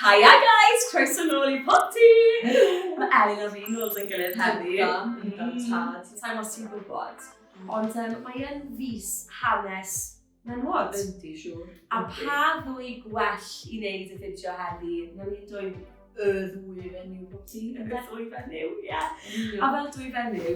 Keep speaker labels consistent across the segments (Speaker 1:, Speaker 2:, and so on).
Speaker 1: Hiya guys, croeso nôl i poti! Mae Elin a fi'n nôl yn gilydd heddi. Ynddo, ynddo,
Speaker 2: tad. Sa'n os ti'n
Speaker 1: gwybod. Ond um, mae'n fus hanes menwod. Yndi, siwr.
Speaker 2: A pa
Speaker 1: ddwy gwell i wneud y fideo heddi? Na ni'n dweud y ddwy
Speaker 2: fenyw bod ti'n... Y ddwy fenyw,
Speaker 1: ie. A fel dwy fenyw,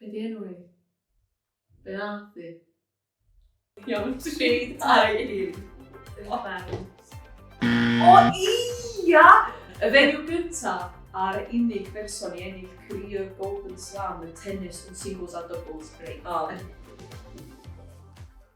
Speaker 2: Be di enw i? Be nath di? Iawn, tri, dau, un. O ia! Y fenyw gyntaf a'r unig berson i ennill career Golden Slam y tennis yn singles a doubles, reit. O.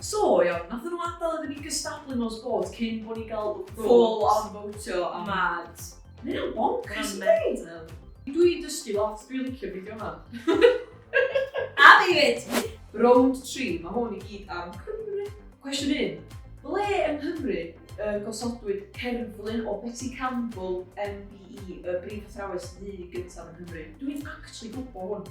Speaker 2: So, iawn, nathon nhw adael iddyn ni gystadlu mewn sport cyn bod ni gael vote. Full on votio am... Mad. Mae
Speaker 1: hynna'n bonkers
Speaker 2: yn dweud. Dwi dysgu lot, dwi'n licio fideo yma.
Speaker 1: A fi fyd! Round 3,
Speaker 2: mae hwn i gyd am Cymru. Cwestiwn 1. Ble yng Nghymru y gosodwyd cerflun o Betty Campbell MBE, y brif athrawes ddu gyntaf yng Nghymru? Dwi'n actually gwybod hwn.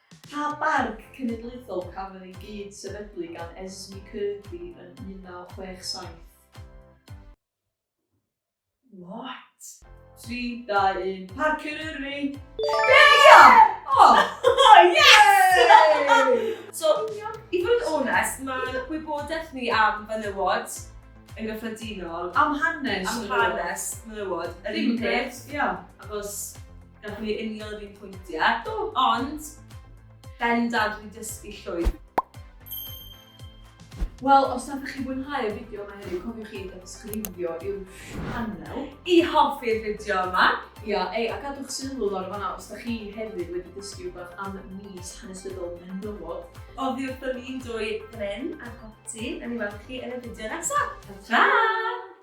Speaker 2: Pa barc cenedlaethol cafodd ei gyd-sefydlu gan Esme Kirkby yn 1967?
Speaker 1: What? 3, 2, 1,
Speaker 2: Parc Eryri! Be? Ia! O! Yes!
Speaker 1: So, i fod yn onest, mae gwybodaeth ni am fenywod yn gyffredinol... Am hanes menywod.
Speaker 2: ...am hanes
Speaker 1: menywod yr un peth, achos... Gallwn ni union yr un pwyntiau. Do. Ond, bendant wedi dysgu llwyth.
Speaker 2: Wel, os nad ydych chi'n mwynhau y fideo yma heddiw, cofiwch chi ddysgrifio i'w sianel. I hoffi'r
Speaker 1: fideo yma. Ia, ei, a gadwch
Speaker 2: sylw lawr fanna os ydych chi hefyd wedi dysgu rhywbeth am mis hanesyddol menywod. Oddi wrthyn ni'n
Speaker 1: dwy bren a goti, a ni weld chi yn y fideo nesaf. Ta!